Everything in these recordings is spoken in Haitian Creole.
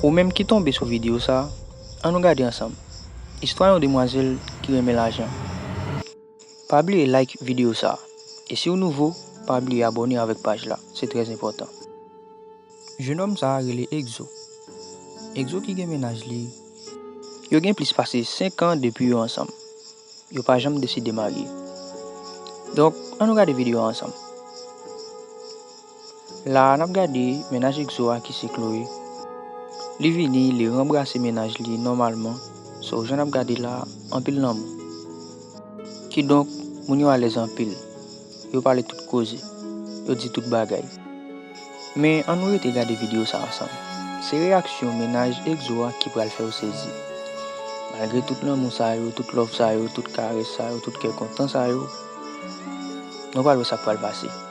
Ou menm ki tonbe sou videyo sa, an nou gade ansanm istwa yon demwazèl ki renmen lajan. Pa bliye like videyo sa, e si w nouvo, pa bliye abòne avèk paj la, se trè enpòtan. Jenòm sa rele Egzo. Egzo ki gen mennaj li. Yo gen plis pase 5 an depi yo ansanm. Yo pa janm deside marye. Donk, an nou gade videyo a ansanm. La a, n ap gade mennaj Egzo a ki se Chloé. Li vini, li ranbrase mennaj li nòmalman, so jan n ap gade la a, anpil lanmou. Kidonk, moun yo alèz anpil, yo pale tout koze, yo di tout bagay. Men, an nou rete gade videyo sa ansanm. Se reyaksyon mennaj Egzo a ki pral fè w sezi. Malgre tout lanmou sa yo, tout love sa yo, tout karès sa yo, tout kè kontan sa yo, nou pral wè sa k pral pase.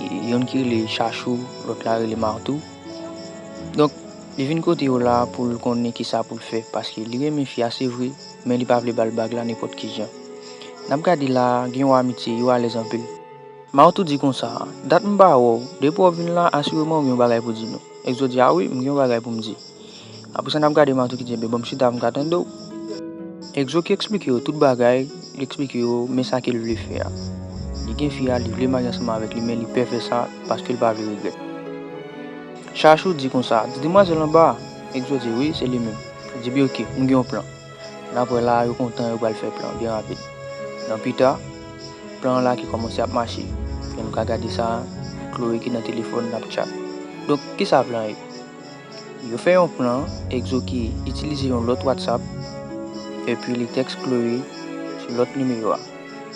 Youn ki rele Chachou, lòt la rele Martou. Donk, li vin kote yo la a pou l konnen ki sa pou l fè paske li renmen fi a se vre men li pa vle ba l bag la nenpòt ki jan. N ap gade la a, gen yon amitye, yo alèz anpil. Martou di konsa, Dat m pa wè w, depi w vin la a asireman w gen yon bagay pou di nou. Exo di, A wi, m gen yon bagay pou m di. Apre sa n ap gade Matou ki di enben ban m chita m ka tande w. Exo ki eksplike yo tout bagay, li eksplike yo men sa ke l vle fè a. Li gen fi a, li vle marye ansanm avèk li men li pè fè sa paske l pa vle regrèt. Chachou di konsa, di demwazèl anba a? Exo di wi, se li menm. Li di bi ok, m gen yon plan. Nan aprè la a yo kontan yo pral fè plan byen rapid. Nan pita, plan an la ki kòmanse ap mache. Jan nou ka gade sa, Chloé ki nan telefòn l ap tchat. Donk, kisa plan ye? Yo fè yon plan Exo ki itilize yon lòt WhatsApp epi li tèks Chloé sou lòt nimewo a.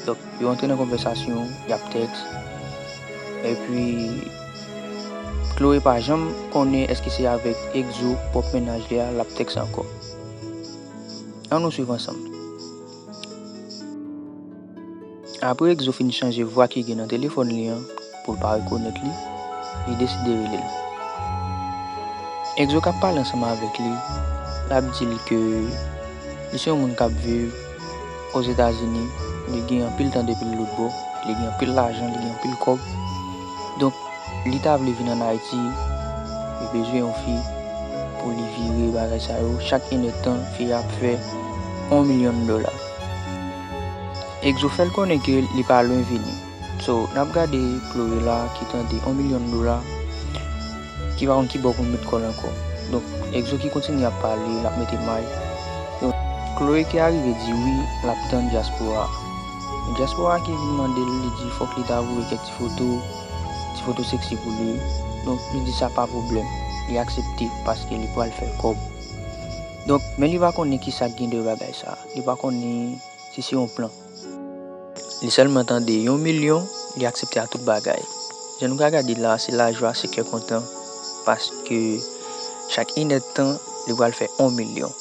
Donk yo antre nan konvèsasyon, y ap tèks epi Chloé pa janm konnen èske se avèk Exo, pwòp mennaj li a, l ap tèks ankò. An nou swiv ansanm. Apre Exo fin chanje vwa ki gen nan telefòn li an pou l pa rekonèt li, li deside rele l. Exo k ap pale ansanm avèk li, l ap di l ke li se yon moun k ap viv Ozetazini, li gen anpil tan depi l lotbò, li gen anpil lajan, li gen anpil kòb. Donk, li ta vle vin ann Ayiti, li bezwen yon fi pou li vire bagay sa yo, chak inèdtan fi a ap fè yon milyon dola. Exo fèl konnen ke li pa lwen vini. So nap gade Chloé la ki tande on milyon dola ki pa konn kibò poul met kòl ankò. Donk Exo ki kontinye ap pale lap mete may. Chloé ki arive di wi lap tann Diaspora. E Diaspora ki vin mandel li di fòk li ta voye kèk ti foto, ti foto sexy pou li. Donk li di sa pa pwoblèm. Li aksepte paske li pwal fè kòb. Donk men li pa konnen kisak gen dèyè bagay sa. Li pa konnen si se yon plan. Li sèlman tande yon milyon, li aksepte a tout bagay. Jan nou ka gade la, se lajwa, se kè kontan, paske chak inèd tan, li pral fè on milyon.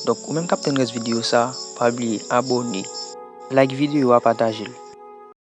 Donk, ou menm k ap tann rès videyo sa, pa bliye abòne. Like videyo a, pataje l.